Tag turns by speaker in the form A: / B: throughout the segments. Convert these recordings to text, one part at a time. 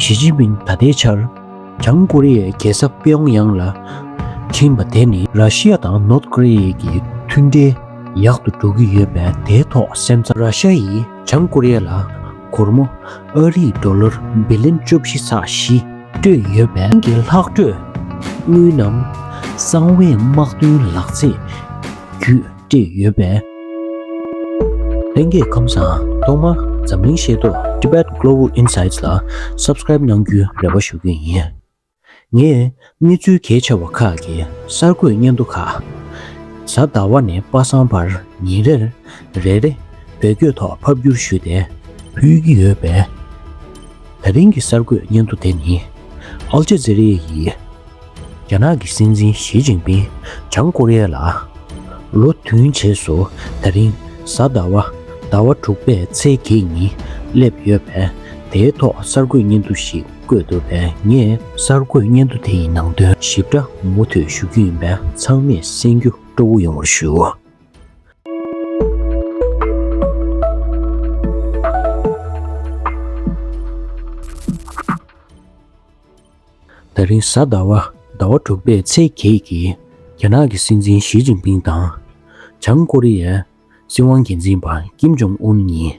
A: ཞི་ཅིན་ཕིང་ད་ལྟའི་ཆར་བྱང་ཀོ་རི་ཡའི་རྒྱལ་ས་པེའོང་ཡང་ལ་ཕྱིན་པ་དེ་ནི་ར་ཤི་ཡ་དང་ནོར་ཏ་ཀོ་རི་ཡའི་གྱི་མཐུན་འབྲེལ་ཡག་ཏུ་འགྲོ་གི་ཡོད་པས་དེའི་ཐོག་སེམས་འཚབ། ར་ཤ་ཡིས་བྱང་ཀོ་རི་ཡ་ལ་སྒོར་མོ་ཨ་རིའི་འགྲོ་ལོར་འབི་ལེན་བཅུ་བཞི་ཚགས་བཞི་སྤྲོད་ཡོད་པས། ཁྱིམ་གྱི་ལྷག་སྤྲོད་དངུལ་རྣམས་གསང་བའི་དམག་དོན་ལག་རྩལ་བརྒྱུད། བཀྲིས་ཡོད་པས། ལྷན་རྒྱས་ཁམས་བཟང་ཐོག་མར་འཛམ་གླིང་ཤེས་རྟོགས Tibet Global Insights ལ Subscribe གནང་རྒྱུའི་རེ་བ་ཞུ་གི་ཡིན། ངས་གནས་ཚུལ་གལ་ཆེ་བ་ཁག་གི་གསར་འགོད་སྙན་ཐོ་ཁག་གཟའ་ཟླ་བ་ནས་པ་སངས་བར་ཉིན་རེར་རེ་རེ་བེད་སྐྱོད་ཐོག་ཕབ་སྒྱུར་ཞུས་ཏེ་ཕུལ་གྱི་ཡོད་པས། ད་རིང་གི་གསར་འགོད་སྙན་ཐོ་དེ་ནི Al Jazeera ཡི། རྒྱ་ནག་གི་སྲིད་འཛིན་ཞི་ཅིང་ཕིང་བྱང་ཀོ་རི་ཡ་ལ་ལོ་མཐུན་བྱེས་སུ་ད་རིང་གཟའ་ཟླ་བ་ཟླ་བ་དྲུག་པའི་ཚེས་བརྒྱད་ཉིན་བསླེབས་ཡོད་པས་དེའི་ཐོག་གསར་འགོད་སྙན་ཐོ་ཞིག་བཀོད་འདུག་པས་ངས་གསར་འགོད་སྙན་ཐོ་དེ་ཡི་ནང་དོན་ཞིབ་ཕྲ་མུ་མཐུད་ཞུ་རྒྱུ་ཡིན་པས་ཚང་མས་གསན་རྒྱུ་སྤྲོ་བོ་ཡོང་བར་ཞུ། ད་རིང་གཟའ་ཟླ་བ་ཟླ་བ་དྲུག་པའི་ཚེས་བརྒྱད་ཀྱི་རྒྱ་ནག་གི་སྲིད་འཛིན་ཞི་ཅིན་ཕིང་དང། བྱང་ཀོ་རི་ཡའི་སྲིད་དབང་འགན་འཛིན་པ་ཀིམ་ཇོང་ཨུན་གཉིས།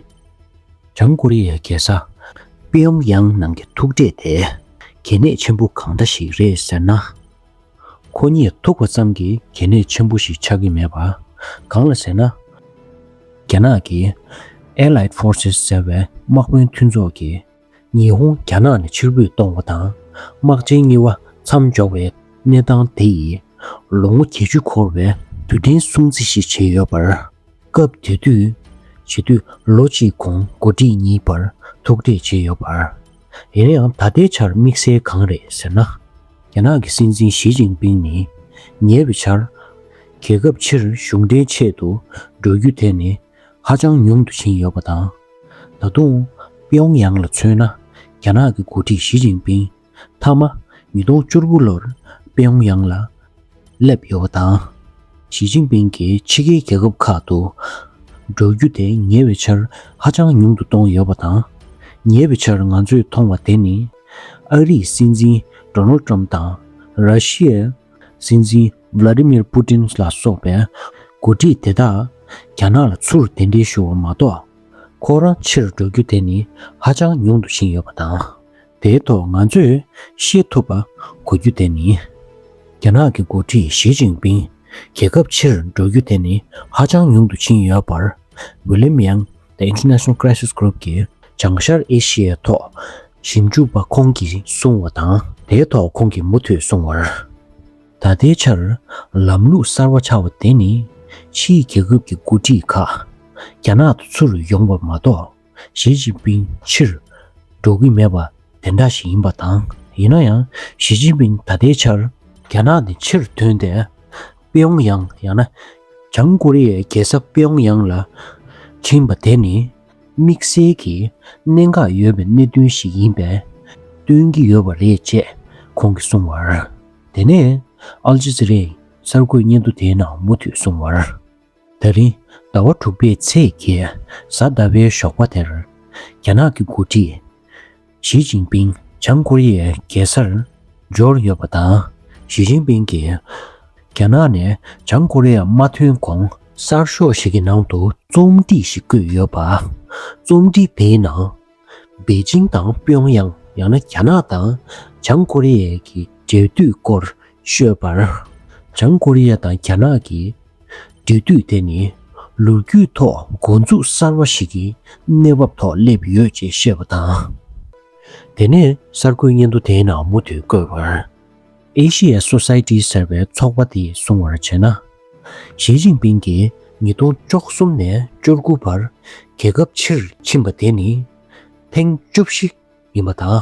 A: བྱང་ཀོ་རི་ཡའི་རྒྱལ་ས་པིཡོང་དབྱང་ནང་གི་ཐུག་འཕྲད་དེ་གལ་གནད་ཆེན་པོ་གང་འདྲ་ཞིག་རེད་ཟེར་ན། ཁོ་གཉིས་ཐུག་པ་ཙམ་གྱིས་གལ་གནད་ཆེན་པོ་ཞིག་ཆགས་ཀྱི་མེད་པ། གང་ལ་ཟེར་ན། རྒྱ་ནག་གི Allied Forces ཟེར་བའི་དམག་དཔོན་མཐུན་ཚོགས་ཀྱི། ཉི་ཧོང་རྒྱ་ནག་ནས་ཕྱིར་འབུད་གཏོང་བ་དང་དམག་ཆེན་གཉིས་བ་མཚམས་འཇོག་པའི་གནས་སྟངས་དེ་ཡིས་ལོ་ངོ་བརྒྱད་ཅུ་འཁོར་བའི་དུས་དྲན་སྲུང་བརྩི་ཞིག་བྱས་ཡོད་པར། སྐབས་དེ་དུས་བྱེད་དུས་ལོ་གཅིག་གོང་འགོ་ཁྲིད་གཉིས་བར་ཐུག་འཕྲད་བྱས་ཡོད་པར། ཡིན་ན་ཡང་ད་ལྟའི་ཆར་དམིགས་བསལ་གང་རེད་ཟེར་ན། རྒྱ་ནག་གི་སྲིད་འཛིན་ཞི་ཅིང་པིང་ནི་ཉེ་བའི་ཆར་རྒྱལ་ཁབ་ཕྱིར་གཞུང་འབྲེལ་ཆེད་དུ་འགྲོ་རྒྱུ་དེ་ནི་ཧ་ཅང་ཉུང་དུ་ཕྱིན་ཡོད་པ་དང། ད་དུང། པེའོང་ཡང་ལ་མཚོན་ན། རྒྱ་ནག་གི་འགོ་ཁྲིད་ཞི་ཅིན་པིང་མཐའ་མ། ཉིས་སྟོང་བཅུ་དགུ་ལོར་པེའོང་ཡང་ལ་བསླེབས་ཡོད་པ་དང། ཞི་ཅིན་པིང་གིས་ཕྱི་རྒྱལ་རྒྱལ་ཁབ་ཁག་ཏུ། འགྲོ་རྒྱུ་དེ་ཉེ་བའི་ཆར་ཧ་ཅང་ཉུང་དུ་གཏོང་ཡོད་པ་དང། ཉེ་བའི་ཆར་ང་ཚོས་མཐོང་བ་དེ་ནི། ཨ་རིའི་སྲིད་འཛིན Donald Trump དང། ར་ཤི་ཡའི་སྲིད་འཛིན། Vladimir Putin། ལ་སོགས་པའི་འགོ་ཁྲིད་དེ་དག་རྒྱ་ནག་ལ་ཚུར་གདན་འདྲེན་ཞུ་བ་མ་གཏོགས། ཁོ་རང་ཕྱིར་འགྲོ་རྒྱུ་དེ་ནི་ཧ་ཅང་ཉུང་དུ་ཕྱིན་ཡོད་པ་དང། དེའི་ཐོག་ང་ཚོས་ཤེས་ཐུབ་པ་གོ་རྒྱུ་དེ་ནི། རྒྱ་ནག་གི་འགོ་ཁྲིད་ཞི་ཅིང་པིང་རྒྱལ་ཁབ་ཕྱིར་འགྲོ་རྒྱུ་དེ་ནི་ཧ་ཅང་ཉུང་དུ་ཕྱིན་ཡོད་པར། William Yang The International Crisis Group གྱི་བྱང་ཤར་ཨེ་ཤི་ཡའི་ཐོག་ཞིབ་འཇུག་པ་ཁོང་གིས་གསུངས་བ་དང། དེའི་ཐོག་ཁོང་གིས་མུ་མཐུད་གསུངས་བར། ད་ལྟའི་ཆར་ལམ་ལུགས་གསར་བ་ཆགས་པ་དེ་ནི་ཕྱིའི་རྒྱལ་ཁབ་ཀྱི་འགོ་ཁྲིད་ཁག་རྒྱ་ནག་ཏུ་ཚུར་ཡོང་བ་མ་གཏོགས་ཞི་ཅིན་ཕིན་ཕྱིར་འགྲོ་གི་མེད་པ་དེ་འདྲ་ཞིག་ཡིན་པ་དང་ཡིན་ན་ཡང་ཞི་ཅིན་ཕིན་ད་ལྟའི་ཆར་རྒྱ་ནག་ནས་ཕྱིར་ཐོན་ཏེ་པེའོང་ཡང་ཡང་ན་བྱང་ཀོ་རི་ཡའི་རྒྱལ་ས་པེའོང་ཡང་ལ་ཕྱིན་པ་དེ་ནི་དམིགས་བསལ་གྱི་གནད་འགག་ཡོད་པའི་གནད་དོན་ཞིག་ཡིན་པས་སྟོན་གྱི་ཡོད་པ་རེད་ཅེས་ཁོང་གིས་གསུངས་བར། དེ་ནས་ཨལ་ཇེ་ཛི་རཱས་གསར་འགོད་སྙན་ཐོ་དེའི་ནང་མུ་མཐུད་གསུངས་བར། ད་རིང་ཟླ་བ་དྲུག་པའི་ཚེས་བརྒྱད་གཟའ་ཟླ་བའི་ཞོགས་པ་དེར་རྒྱ་ནག་གི་འགོ་ཁྲིད་ཞི་ཅིན་ཕིང་བྱང་ཀོ་རི་ཡའི་རྒྱལ་སར་འབྱོར་ཡོད་པ་དང། ཞི་ཅིན་ཕིང་གིས་རྒྱ་ནག་ནས་བྱང་ཀོ་རི་ཡར་མ་ཐོན་གོང། གསར་ཤོག་ཞིག་གི་ནང་དུ་རྩོམ་སྒྲིག་ཞིག་བཀོད་ཡོད་པ། རྩོམ་སྒྲིག་དེའི་ནང། པེ་ཅིང་དང་པེའོ་ཡང་ཡང་ན་རྒྱ་ནག་དང་བྱང་ཀོ་རི་ཡའི་གི་འབྲེལ་མཐུད་སྐོར་ཤོད་པར། བྱང་ཀོ་རི་ཡ་དང་རྒྱ་ནག་གི། འབྲེལ་མཐུད་དེ་ནི་ལོ་རྒྱུས་ཐོག་འགོ་འཛུགས་གསར་བ་ཞིག་གི་གནས་བབ་ཐོག་སླེབས་ཡོད་ཅེས་བཤད་པ་དང། དེ་ནས་གསར་འགོད་སྙན་ཐོ་དེའི་ནང་མུ་མཐུད་བཀོད་པར། Asia Society ཟེར་བའི་ཚོགས་པ་དེས་གསུང་བར་བྱས་ན། ཞི་ཅིན་ཕིང་གིས་ཉིས་སྟོང་བཅོ་གསུམ་ནས་བཅོ་དགུ་བར་རྒྱལ་ཁབ་ཕྱིར་ཕྱིན་པ་དེ་ནི་ཐེངས་བཅུ་བཞི་ཡིན་པ་དང།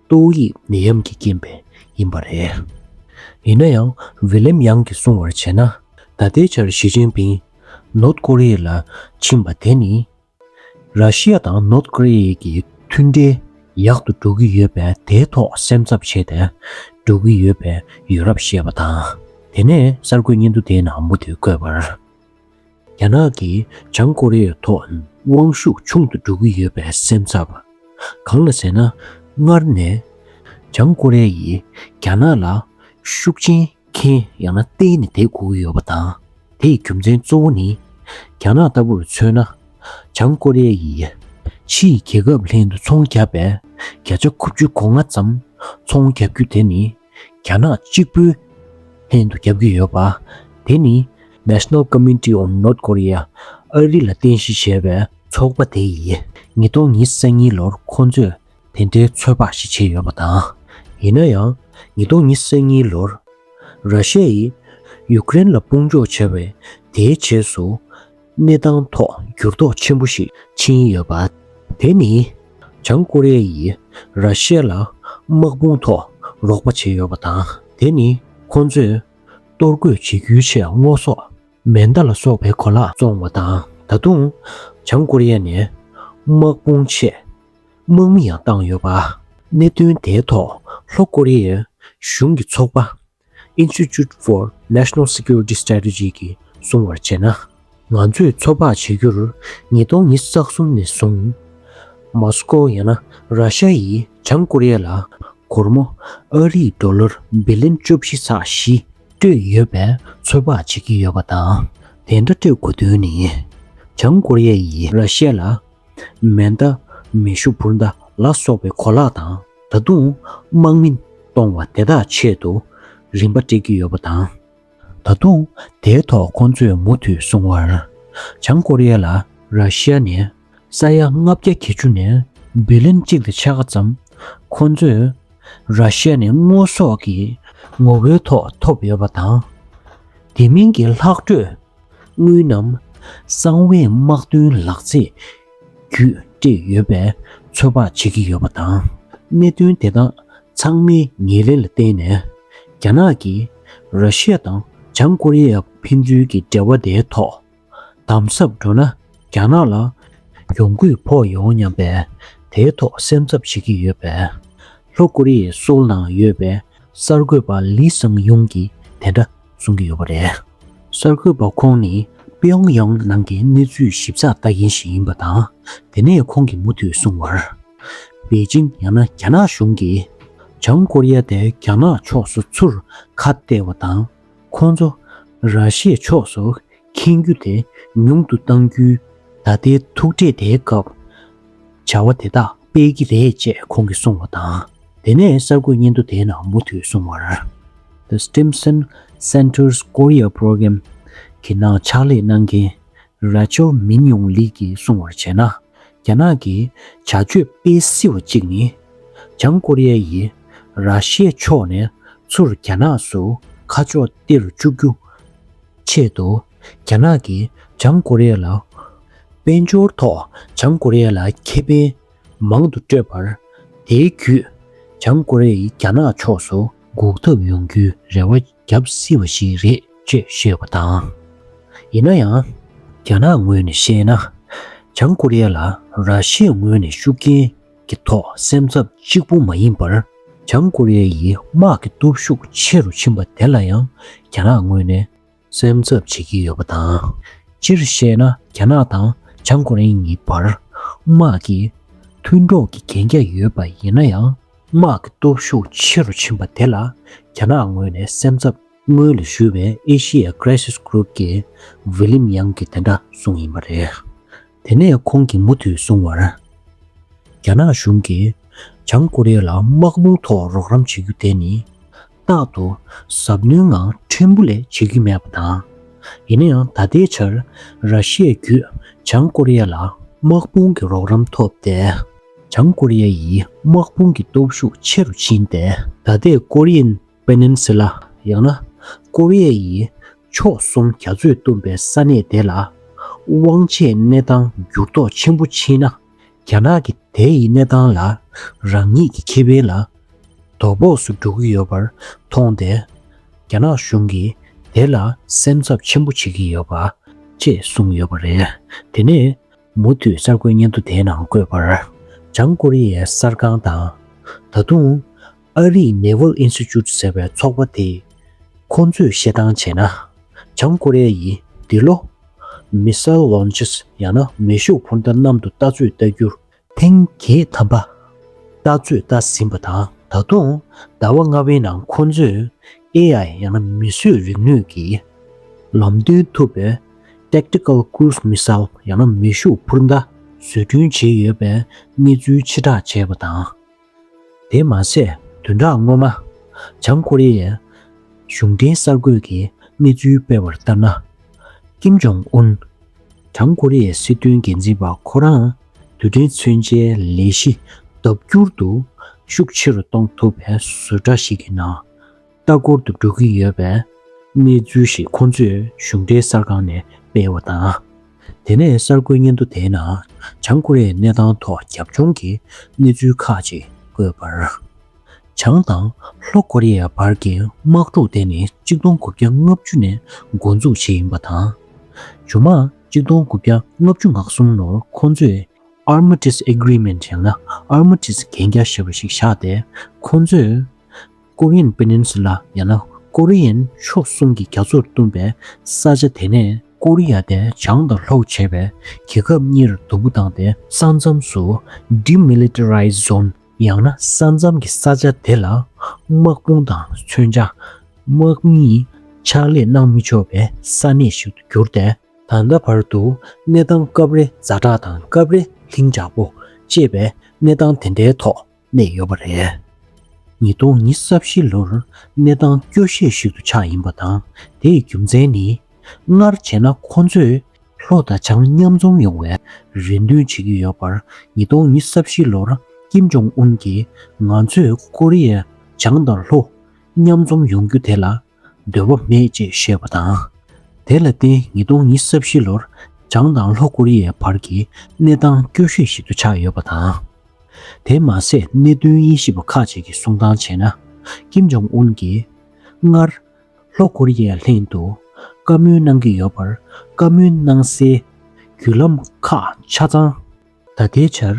A: ཏོའུ་ཡིས་ནད་ཡམས་ཀྱི་རྐྱེན་པས་ཡིན་པ་རེད། ཡིན་ན་ཡང་བྷི་ལེམ་ཡང་གིས་གསུང་བར་བྱས་ན། ད་ལྟའི་ཆར་ཞི་ཅིན་ཕིན North Korea ལ་ཕྱིན་པ་དེ་ནི། ར་ཤི་ཡ་དང North Korea ཀྱི་མཐུན་འབྲེལ་ཡག་ཏུ་འགྲོ་གི་ཡོད་པས་དེའི་ཐོག་སེམས་འཚབ་བྱས་ཏེ་འགྲོ་གི་ཡོད་པས་ཡོད་རབས་བཤད་པ་དང། དེ་ནས་གསར་འགོད་སྙན་ཐོ་དེའི་ནང་མུ་མཐུད་བཀོད་པར། རྒྱ་ནག་གིས་བྱང་ཀོ་རི་ཡའི་ཐོག་དབང་ཤུགས་ཆུང་དུ་འགྲོ་གི་ཡོད་པའི་སེམས་འཚབ་པ། གང་ལ་ཟེར་ན། སྔར་ནས་བྱང་ཀོ་རེ་ཡིས་རྒྱ་ནག་ལ་ཤུགས་རྐྱེན་ཁེན་ཡང་ན་གཏན་ནས་དེད་དགོས་ཀྱི་ཡོད་པ་དང། དེའི་རྒྱུ་མཚན་གཙོ་བོ་ནི། རྒྱ་ནག་ལྟ་བུར་མཚོན་ན། བྱང་ཀོ་རེ་ཡིས་ཕྱི་ཡི་རྒྱལ་ཁབ་ལྷན་དུ་ཚོང་བརྒྱབ་པའི་བརྒྱ་ཆ་དགུ་བཅུ་གོ་ལྔ་ཙམ་ཚོང་བརྒྱབ་རྒྱུ་དེ་ནི་རྒྱ་ནག་གཅིག་པུའི་ལྷན་དུ་རྒྱབ་ཀྱི་ཡོད་པ། དེ་ནི National Committee on North Korea ཨ་རི་ལ་རྟེན་གཞི་བྱས་པའི་ཚོགས་པ་དེ་ཡིན། ཉིས་སྟོང་ཉིས་བརྩེགས་གཉིས་ལོར་ཁོང་ཚོས་དེ་འདྲའི་ཚོད་དཔག་ཞིག་བྱས་ཡོད་པ་དང། ཡིན་ན་ཡང་ཉིས་སྟོང་ཉིས་བརྩེགས་གཉིས་ལོར་ར་ཤ་ཡིས་ཡུཀ་རེན་ལ་དཔུང་འཇོག་བྱས་པའི་དེའི་རྗེས་སུ། གནས་སྟངས་ཐོག་འགྱུར་ལྡོག་ཆེན་པོ་ཞིག་ཕྱིན་ཡོད་པ། དེ་ནི་བྱང་ཀོ་རེ་ཡིས་ར་ཤི་ཡ་ལ་དམག་དཔུང་ཐོག་རོགས་པ་བྱས་ཡོད་པ་དང་དེ་ནི་ཁོང་ཚོས་གཏོར་རྒོལ་བྱེད་རྒྱུའི་ཆེད་དངོས་ཟོག་མེ་མདའ་ལ་སོགས་པའི་གོ་ལ་བཙོང་བ་དང་ད་དུང་བྱང་ཀོ་རེ་ཡ་ནས་དམག་དཔུང་ཆེད་དམག་མི་ཡང་བཏང་ཡོད་པ། གནད་དོན་དེའི་ཐོག་ལྷོ་ཀོ་རེ་ཡའི་གཞུང་གི་ཚོགས་པ Institute for National Security Strategy། ཀྱིས་གསུང་བར་བྱས་ན། ང་ཚོས་མཚོ་འཕགས་བྱེད་རྒྱུར་ཉིས་སྟོང་ཉིས་བརྒྱ་རྩ་གསུམ་ནས་བཟུང། མཱོ་སི་ཀོ་ཡང་ན་ར་ཤ་ཡིས་བྱང་ཀོ་རི་ཡ་ལ་སྒོར་མོ་ཨ་རིའི་ལྡོ་ལར་བི་ལིན་བཅུ་བཞི་ཚགས་བཞི་སྤྲོད་ཡོད་པས་མཚོ་འཕགས་བྱེད་ཀྱི་ཡོད་པ་དང་དེ་འདྲ་སྤྲོད་དགོས་དོན་ནི། བྱང་ཀོ་རི་ཡ་ཡིས་ར་ཤ་ལ་མེ་མདའ། མེ་ཤུགས་འབུར་མདའ་ལ་སོགས་པའི་གོ་ལག་དང་ད་དུང་དམག་མི་གཏོང་བ་དེ་དག་ཆེད་དུ་རིན་པ་སྤྲད་ཀྱི་ཡོད་པ་དང། ད་དུང་དེའི་ཐོག་ཁོང་ཚོས་མུ་མཐུད་གསུང་བར། བྱང་ཀོ་རི་ཡ་ལ་ར་ཤི་ཡ་ནས་ས་ཡ་ལྔ་བརྒྱ་གྱ་བཅུ་ནས་བི་ལིན་གཅིག་དང་ཕྱེད་ཀ་ཙམ་ཁོང་ཚོས་ར་ཤི་ཡ་ནས་དངོས་ཟོག་གི་ངོ་བོའི་ཐོག་ཐོབ་ཡོད་པ་དང། དེ་མིན་གྱི་ལྷག་འཕྲོས་དངུལ་ནམ། གསང་བའི་དམག་དོན་ལག་རྩལ། བརྒྱུད་སྤྲད་ཡོད་པས་ཚོད་དཔག་བྱེད་ཀྱི་ཡོད་པ་དང། གནད་དོན་དེ་དག་ཚང་མའི་ངེས་ལེགས་ལ་བརྟེན་ནས། རྒྱ་ནག་གིས་ར་ཤི་ཡ་དང་བྱང་ཀོ་རི་ཡར་ཕན་ཚུན་གྱི་འབྲེལ་བ་དེའི་ཐོག་དམ་ཟབ་འགྲོ་ན་རྒྱ་ནག་ལ་གྱོང་གུད་ཕོག་ཡོང་སྙམ་པས་དེའི་ཐོག་སེམས་འཚབ་བྱེད་ཀྱི་ཡོད་པས། ལྷོ་ཀོ་རི་ཡའི་སྲོལ་ནང་ཡོད་པའི་གསར་འགོད་པ་ལི་སང་ཡུང་གིས་དེ་འདྲ་གསུང་གི་ཡོད་པ་རེད། གསར་འགོད་པ་ཁོང་ནི་པི་ཡོང་ཡང་ནང་གི་གནས་ཚུལ་ཞིབ་ཚགས་ལྟ་མཁན་ཞིག་ཡིན་པ་དང། དེ་ནས་ཁོང་གིས་མུ་མཐུད་གསུང་བར། པེ་ཅིང་ཡང་ན་རྒྱ་ནག་གཞུང་གིས་བྱང་ཀོ་རི་ཡ་དེ་རྒྱ་ནག་ཕྱོགས་སུ་ཚུར་ཁ་གཏད་བ་དང། ཁོང་ཚོ་ར་ཤེས་ཕྱོགས་སུ་འཁེན་རྒྱུ་དེ་ཉུང་དུ་གཏང་རྒྱུའི་ད་ལྟའི་ཐུག་འཕྲད་དེའི་སྐབས་བྱ་བ་དེ་དག་སྤེལ་གྱི་རེད་ཅེས་ཁོང་གིས་གསུངས་བ་དང། དེ་ནས་གསར་འགོད་སྙན་ཐོ་དེའི་ནང་མུ་མཐུད་གསུངས་བར། The Stimson Center's Korea Program། གི་ནང་ཕྱག་ལས་གནང་མཁན Rachel Min Young Lee གྱིས་གསུངས་བར་བྱས་ན། རྒྱ་ནག་གི་བྱ་སྤྱོད་སྤེལ་སྲིད་བ་གཅིག་ནི། བྱང་ཀོ་རེ་ཡ་ཡིས་ར་ཤི་ཡའི་ཕྱོགས་ནས་ཚུར་རྒྱ་ནག་སུ་ཁ་ཕྱོགས་སྟེར་བཅུག་རྒྱུ་ཆེད་དུ་རྒྱ་ནག་གིས་བྱང་ཀོ་རི་ཡ་ལ་དཔལ་འབྱོར་ཐོག་བྱང་ཀོ་རི་ཡ་ལ་ཁེ་ཕན་མང་དུ་སྤྲོད་པར། དེའི་བརྒྱུད་བྱང་ཀོ་རི་ཡས་རྒྱ་ནག་ཕྱོགས་སུ་འགུག་ཐབས་ཡོང་རྒྱུའི་རེ་བ་བརྒྱབ་སྲིད་པ་ཞིག་རེད་ཅེས་བཤད་པ་དང། ཡིན་ན་ཡང། རྒྱ་ནག་ངོས་ནས་བཤད་ན། བྱང་ཀོ་རི་ཡ་ལ་ར་ཤི་ཡའི་ངོས་ནས་ཤུགས་རྐྱེན་གྱི་ཐོག་སེམས་འཚབ་གཅིག་པུ་མ་ཡིན་པར། བྱང་ཀོ་རི་ཡའི་དམག་གི་སྟོབས་ཤུགས་ཆེ་རུ་ཕྱིན་པ་དེ་ལ་ཡང་རྒྱ་ནག་ངོས་ནས། སེམས་འཚབ་བྱེད་ཀྱི་ཡོད་པ་དང། སྤྱིར་བཤད་ན་རྒྱ་ནག་དང་བྱང་ཀོ་རེ་གཉིས་བར་དམག་གི་མཐུན་གྲོགས་ཀྱི་གན་རྒྱ་ཡོད་པ་ཡིན་ན་ཡང། དམག་གི་སྟོབས་ཤུགས་ཆེ་རུ་ཕྱིན་པ་དེ་ལ་རྒྱ་ནག་ངོས་ནས་སེམས་འཚབ། སྔོན་ལ་ཞུས་པའི Asia Crisis Group ཀྱི William Young གིས་དེ་འདྲ་གསུངས་ཡིན་པ་རེད། དེ་ནས་ཁོང་གིས་མུ་མཐུད་གསུངས་བར། རྒྱ་ནག་གཞུང་གིས་བྱང་ཀོ་རེ་ལ་དམག་དཔུང་ཐོག་རོགས་རམ་བྱེད་རྒྱུ་དེ་ནི། རྟག་ཏུ་གཟབ་ནན་ངང་ཕྲན་བུ་ལས་བྱེད་ཀྱི་མེད་པ་དང། ཡིན་ན་ཡང་ད་ལྟའི་ཆར་ར་ཤི་ཡས་བརྒྱུད་བྱང་ཀོ་རི་ཡ་ལ་དམག་དཔུང་གི་རོགས་རམ་ཐོབ་སྟེ། བྱང་ཀོ་རི་ཡ་ཡི་དམག་དཔུང་གི་སྟོབས་ཤུགས་ཆེ་རུ་ཕྱིན་ཏེ་ད་ལྟའི Korean Peninsula ཡང་ན་ཀོ་རི་ཡའི་ཕྱོགས་གསུམ་རྒྱ་མཚོས་བཏུམས་པའི་ས་གནས་དེ་ལ་དབང་ཆའི་གནས་སྟངས་འགྱུར་ལྡོག་ཆེན་པོ་ཕྱིན་ན། རྒྱ་ནག་གི་དེ་ཡི་གནས་སྟངས་ལ་རང་ཉིད་ཀྱི་ཁེ་ཕན་ལ་དོ་ཕོགས་སུ་འགྲོ་གི་ཡོད་པར་མཐོང་སྟེ། རྒྱ་ནག་གཞུང་གིས་དེ་ལ་སེམས་འཚབ་ཆེན་པོ་བྱེད་ཀྱི་ཡོད་པ། ཅེས་གསུངས་ཡོད་པ་རེད། དེ་ནས་མུ་མཐུད་གསར་འགོད་སྙན་ཐོ་དེའི་ནང་བཀོད་པར། བྱང་ཀོ་རི་ཡའི་གསར་ཁང་དང། ད་དུང། ཨ་རིའི་ནེ་ཝལ་ཨིན་སི་ཅུད་ཟེར་བའི་ཚོགས་པ་དེས་ཁོང་ཚོས་བཤད་སྟངས་བྱས་ན། བྱང་ཀོ་རེ་ཡིས་འདི་ལོ། Missile Launches། ཡང་ན་མེ་ཤུགས་འཕུར་མདའ་གནམ་དུ་ལྟ་ཚོད་ལྟ་རྒྱུར། ཐེངས་བརྒྱད་ཐམ་པ་ལྟ་ཚོད་ལྟ་ཟིན་པ་དང་ད་དུང་ཟླ་བ་ལྔ་བའི་ནང་ཁོང་ཚོས AI ཡང་ན་མི་གསོད་རིག་ནུས་ཀྱིས་ལམ་སྟོན་ཐུབ་པའི Tactical Cruise Missile ཡང་ན་མེ་ཤུགས་འཕུར་མདའ་བཟོ་སྐྲུན་བྱས་ཡོད་པའི་གནས་ཚུལ་ཕྱིར་བསྒྲགས་བྱས་པ་དང། དེ་མ་ཟད་བདུན་ཕྲག་སྔོན་མ། བྱང་ཀོ་རི་ཡའི་གཞུང་འབྲེལ་གསར་འགོད་ཀྱིས་གནས་ཚུལ་སྤེལ་བར་ལྟར་ན། ཀིམ་ཇོང་ཨུན། བྱང་ཀོ་རི་ཡའི་སྲིད་དོན་འགན་འཛིན་པ་ཁོ་རང་དུས་དྲན་མཚོན་ཆའི་ལས་གཞི་ལྡབ་འགྱུར་དུ་ཤུགས་ཆེ་རུ་གཏོང་ཐུབ་པའི་བཟོ་འདྲ་ཞིག་གི་ནང། ལྟ་སྐོར་དུ་འགྲོ་གི་ཡོད་པའི་གནས་ཚུལ་ཞིག་ཁོང་ཚོས་གཞུང་འབྲེལ་གསར་ཁང་ནས་སྤེལ་བ་དང། དེ་ནས་གསར་འགོད་སྙན་ཐོ་དེའི་ནང་བྱང་ཀོ་རེ་ཡའི་གནས་སྟངས་ཐོག་རྒྱབ་ལྗོངས་ཀྱི་གནས་ཚུལ་ཁག་ཅིག་བཀོད་པར། བྱང་དང་ལྷོ་ཀོ་རེ་ཡའི་བར་གྱི་དམག་འཁྲུག་དེ་ནི་གཅིག་སྟོང་དགུ་བརྒྱ་ལྔ་བཅུ་ནས་འགོ་འཛུགས་བྱས་ཡིན་པ་དང། ཇོ་མང་གཅིག་སྟོང་དགུ་བརྒྱ་ལྔ་བཅུ་ང་གསུམ་ལོར་ཁོང་ཚོས Armistice Agreement ཡང་ན Armistice གན་རྒྱ་ཞེས་པ་ཞིག་བཞག་སྟེ་ཁོང་ཚོས་ཀོ་ཡན་པེ་ནན་སུ་ལ་ཡང་ན་ཀོ་རི་ཡན་ཕྱོགས་གསུམ་གྱི་རྒྱ་མཚོར་བསྟུན་པའི་ས་ཆ་དེ་ནས། ཀོ་རི་ཡ་དེ་བྱང་དང་ལྷོ་བྱས་པས་རྒྱལ་ཁབ་གཉིས་རུ་དུམ་བུ་བཏང་སྟེ་ས་མཚམས་སུ། Demilitarized Zone། ཡང་ན་ས་མཚམས་ཀྱི་ས་ཆ་དེ་ལ་དམག་དཔུང་དང་མཚོན་ཆ། དམག་མི། ཕྱག་ལས་གནང་མི་ཆོག་པའི་ས་གནས་ཤིག་ཏུ་གྱུར་ཏེ། ད་ལྟ་བར་དུ་གནས་སྟངས་སྐབས་རེ་རྫ་བྲག་དང་སྐབས་རེ་ལྷིང་འཇགས་པོ་ཅེས་པའི་གནས་སྟངས་དེ་འདྲའི་ཐོག་གནས་ཡོད་པ་རེད། ཉིས་སྟོང་ཉི་ས་བཞི་ལོར་གནས་སྟངས་སྐྱོ་ཤས་ཤིག་ཏུ་ཆགས་ཡིན་པ་དང་དེའི་རྒྱུ་མཚན་ནི། སྔར་བྱས་ན་ཁོང་ཚོས་ལྷོ་དང་བྱང་མཉམ་འཛོམས་ཡོང་བའི་རེ་འདུན་བྱེད་ཀྱི་ཡོད་པར་ཉིས་སྟོང་ཉི་ས་བཞི་ལོར་ཀིམ་ཇོང་ཨུན་གྱིས་ང་ཚོས་ཀོ་རི་ཡའི་བྱང་དང་ལྷོ་མཉམ་འཛོམས་ཡོང་རྒྱུ་དེ་ལ་འདོད་པ་མེད་ཅེས་བཤད་པ་དང། དེ་ལ་བརྟེན་ཉིས་སྟོང་ཉི་ས་བཞི་ལོར་བྱང་དང་ལྷོ་ཀོ་རི་ཡའི་བར་གྱི་གནས་སྟངས་སྐྱོ་ཤོས་ཤིག་ཏུ་ཆགས་ཡོད་པ་དང། དེ་མ་ཟད་གནད་དོན་དབྱེ་ཞིབ་པ་ཁག་ཅིག་གིས་གསུང་སྟངས་བྱས་ན། ཀིམ་ཇོང་ཨུན་གྱིས་སྔར། ལྷོ་ཀོ་རི་ཡའི་ལྷན་དུ་བཀའ་མོལ་གནང་གི་ཡོད་པར་བཀའ་མོལ་གནང་སའི་བརྒྱུད་ལམ་ཁག་ཆ་ཚང། ད་ལྟའི་ཆར།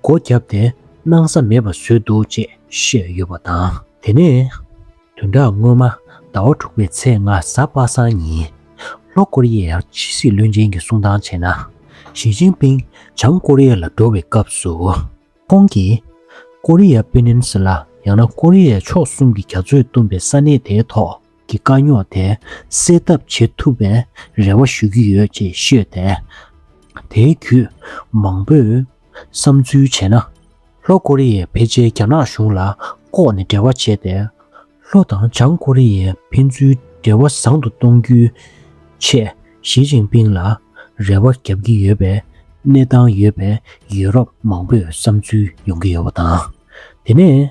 A: སྒོ་བརྒྱབ་སྟེ་གནང་ས་མེད་པ་བཟོས་འདུག་ཅེས་བཤད་ཡོད་པ་དང། དེ་ནས། དོན་དག་སྔོན་མ་ཟླ་བ་དྲུག་པའི་ཚེས་ལྔ་གཟའ་པ་སངས་ཉིན། ལྷོ་ཀོ་རི་ཡའི་ཕྱི་སྲིད་བློན་ཆེན་གྱི་གསུང་སྟངས་བྱས་ན། ཞི་ཅིན་ཕིན་བྱང་ཀོ་རི་ཡ་ལ་འགྲོ་བའི་སྐབས་སུ། ཁོང་གིས། ཀོ་རི་ཡ་པེ་ནིན་སི་ལ་ཡང་ན་ཀོ་རི་ཡའི་ཕྱོགས་གསུམ་གྱི་རྒྱ་མཚོས་བཏུམས་པའི་ས་གནས་དེའི་ཐོག། གི་དཀའ་རྙོག་དེ་སེལ་ཐབས་བྱེད་ཐུབ་པའི་རེ་བ་ཞུ་གི་ཡོད་ཅེས་ཤོད་དེ། དེའི་བརྒྱུད་མང་པོས་བསམ་ཚུལ་བྱས་ན། ལྷོ་ཀོ་རི་ཡས་ཕལ་ཆེར་རྒྱ་ནག་གཞུང་ལ་ལྐོག་ནས་འབྲེལ་བ་བྱས་ཏེ། ལྷོ་དང་བྱང་ཀོ་རི་ཡའི་ཕན་ཚུན་འབྲེལ་བ་བཟང་དུ་གཏོང་རྒྱུའི་ཆེད་ཞི་ཅིང་ཕིང་ལ་རེ་བ་བརྒྱབ་ཀྱི་ཡོད་པའི་གནས་སྟངས་ཡོད་པས་ཡུ་རོབ་མང་པོས་བསམ་ཚུལ་ཡོང་གི་ཡོད་པ་དང། དེ་ནས།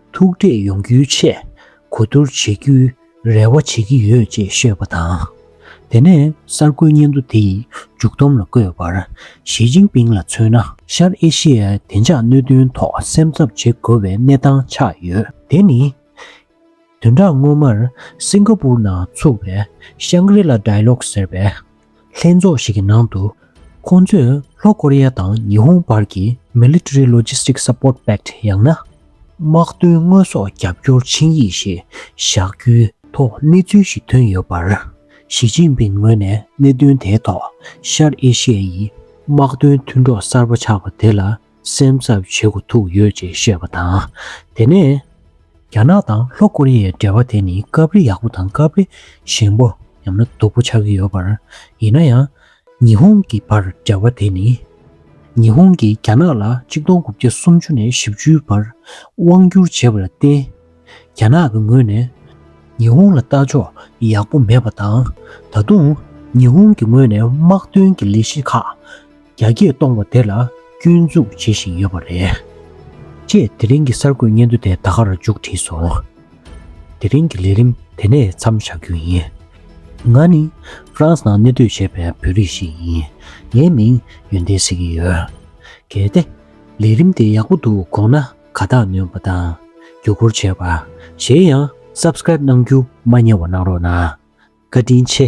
A: ཐུག་འཕྲད་ཡོང་རྒྱུའི་ཆེད་གོ་བསྡུར་བྱེད་རྒྱུའི་རེ་བ་བྱེད་ཀྱི་ཡོད་ཅེས་བཤད་པ་དང། དེ་ནས་གསར་འགོད་སྙན་ཐོ་དེ་མཇུག་བསྡོམས་ལ་བཀོད་པར་ཞི་ཅིན་ཕིང་ལ་མཚོན་ན། ཤར་ཨེ་ཤེ་ཡའི་བདེ་འཇགས་གནོད་དོན་ཐོག་སེམས་འཚབ་བྱེད་དགོས་པའི་གནས་སྟངས་ཆགས་ཡོད། དེ་ནི། དོན་དག་སྔོན་མར་སིང་ག་པུར་ནང་ཚུགས་པའི Shangri-La Dialogue ཟེར་བའི་ལྷན་ཚོགས་ཤིག་གི་ནང་དུ། ཁོང་ཚོས་ལྷོ་ཀོ་རི་ཡ་དང་ཉི་ཧོང་བར་གྱི Military Logistic Support Pact ཡང་ན། དམག་དོན་དངོས་ཟོག་རྒྱབ་སྐྱོར་ཆིངས་ཡིག་ཞེས་བཞག་རྒྱུའི་ཐོག་གནས་ཚུལ་ཞིག་ཐོན་ཡོད་པར། ཞི་ཅིན་ཕིན་ངོས་ནས་གནད་དོན་དེའི་ཐོག་ཤར་ཨེ་ཤེ་ཡའི་དམག་དོན་མཐུན་གྲོགས་གསར་པ་ཆགས་པ་དེ་ལ་སེམས་འཚབ་བྱེད་དགོས་ཐུག་ཡོད་ཅེས་བཤད་པ་དང། དེ་ནས། རྒྱ་ནག་དང་ལྷོ་ཀོ་རི་ཡའི་འབྲེལ་བ་དེ་ནི་སྐབས་རེ་ཡག་པོ་དང་སྐབས་རེ་ཞན་པོ་ཡང་ན་སྡུག་པོ་ཆགས་ཀྱི་ཡོད་པར། ཡིན་ན་ཡང། ཉི་ཧོང་གི་བར་འབྲེལ་བ་དེ་ནི། ཉི་ཧོང་གིས་རྒྱ་ནག་ལ་གཅིག་སྟོང་དགུ་བརྒྱ་སུམ་ཅུ་ནས་བཞི་བཅུའི་བར་དབང་བསྒྱུར་བྱས་པ་ལ་བརྟེན། རྒྱ་ནག་གི་ངོས་ནས། ཉི་ཧོང་ལ་ལྟ་ཕྱོགས་ཡག་པོ་མེད་པ་དང། ད་དུང། ཉི་ཧོང་གི་ངོས་ནས་དམག་དོན་གྱི་ལས་གཞི་ཁག། རྒྱ་སྐྱེད་གཏོང་བ་དེ་ལ་སྐྱོན་འཛུགས་བྱེད་བཞིན་ཡོད་པ་རེད། ཅེས་དེ་རིང་གི་གསར་འགོད་སྙན་ཐོ་དེ་ད་ག་རུ་མཇུག་བསྒྲིལ་སོང། དེ་རིང་གི་ལས་རིམ་དེ་ནས་མཚམས་བཞག་རྒྱུ་ཡིན། ང་ནི་ཧྥ་རན་སི་ནང་གནས་སྡོད་བྱེད་པའི་བོད་རིགས་ཤིག་ཡིན། ངའི་མིང་ཡོན་ཏན་ཟེར་གྱི་ཡོད། གལ་ཏེ། ལས་རིམ་དེ་ཡག་པོ་འདུག་དགོངས་ན་ཁ་བཏགས་ནོན་པ་དང། བརྒྱུད་སྐུར་བྱས་པ། གཞན་ཡང Subscribe གནང་རྒྱུ་མ་གཉེར་བ་གནང་རོགས་གནང། བཀའ་དྲིན་ཆེ།